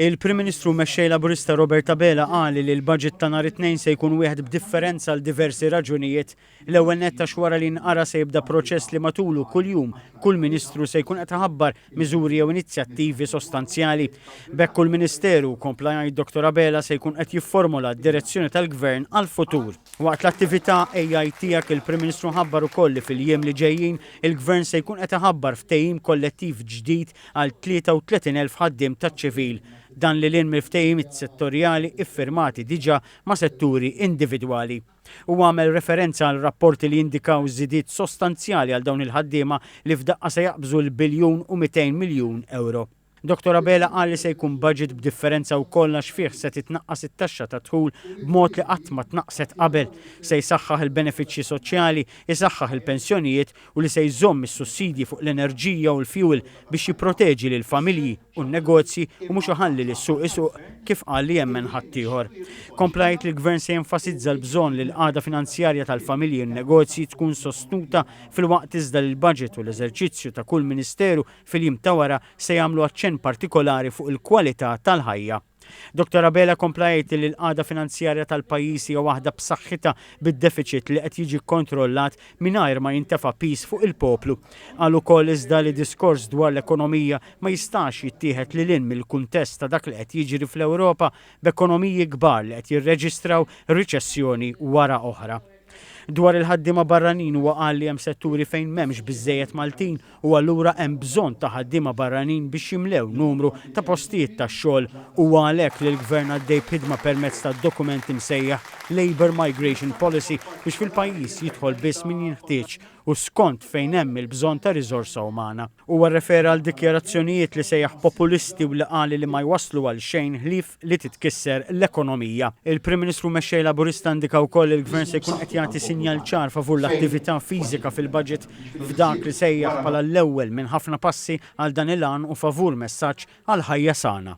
Il-Prim Ministru u Mexxej Laburista Robert Abela qal li l-budget ta' nhar it-Tnejn se jkun wieħed b'differenza għal diversi raġunijiet. L-ewwel nett għax wara li nqara se jibda proċess li matulu kuljum kull Ministru se jkun qed iħabbar miżuri jew inizjattivi sostanzjali. B'hekk kull Ministeru, kompla jgħid Dottor Abela, se jkun qed jifformola d-direzzjoni tal-Gvern għall-futur. Waqt l-attività AI Tiegħek il-Prim Ministru ħabbar ukoll li fil-jiem li ġejjin il-Gvern se jkun qed iħabbar ftehim kollettiv ġdid għal 33,000 ħaddiem taċ-ċivil, dan lil hinn mill-ftehimiet settorjali iffirmati diġà ma' setturi individwali. Huwa għamel referenza għal rapporti li jindikaw żidiet sostanzjali għal dawn il-ħaddiema li f'daqqa se jaqbżu l-biljun u 200 miljun ewro. Dottor Abela qal li se jkun budget b'differenza wkoll għax fih se titnaqqas it-taxxa tad-dħul b'mod li qatt ma tnaqqset qabel, se jsaħħaħ il-benefiċċji soċjali, isaħħaħ il-pensjonijiet u li se jżomm is-sussidji fuq l-enerġija u l-fjuwil biex jipproteġi lill-familji u n-negozji u mhux iħalli lis-suq isuq kif qal li jemmen ħaddieħor. Kompla jgħid li l-Gvern se jenfasizza l-bżonn li l-qagħda finanzjarja tal-familji u n-negozji tkun sostnuta filwaqt iżda li l-baġit u l-eżerċizzju ta' kull Ministeru fil-jiem ta' wara se jagħmlu aċċenn partikolari fuq il-kwalità tal-ħajja Dottor Abela kompla jgħid li l-qagħda finanzjarja tal-pajjiż hija waħda b'saħħitha bid-defiċit li qed jiġi kkontrollat mingħajr ma jintefa' piż fuq il-poplu. Qal ukoll iżda li diskors dwar l-ekonomija ma jistax jittieħed lil hinn mill-kuntest ta' dak li qed jiġri fl-Ewropa b'ekonomiji kbar li qed jirreġistraw riċessjoni wara oħra. Dwar il-ħaddiema barranin huwa qal li hemm setturi fejn m'hemmx biżżejjed Maltin u allura hemm bżonn ta' ħaddiema barranin biex jimlew numru ta' postijiet tax-xogħol. Huwa għalhekk li l-Gvern għaddej b'ħidma permezz ta' dokument imsejjaħ Labour Migration Policy biex fil-pajjiż jidħol biss min jinħtieġ u skont fejn hemm il-bżonn ta' riżorsa umana. Huwa rrefera għal dikjarazzjonijiet li sejjaħ populisti u li qal li ma jwasslu għal xejn ħlief li titkisser l-ekonomija. Il-Prim Ministru Mexxej Laburista indika wkoll li l-Gvern se jkun qed jagħti sinjal ċar favur l-attività fiżika fil-Budget f'dak li sejjaħ bħala l-ewwel minn ħafna passi għal dan il-għan u favur messaġġ għal ħajja sana.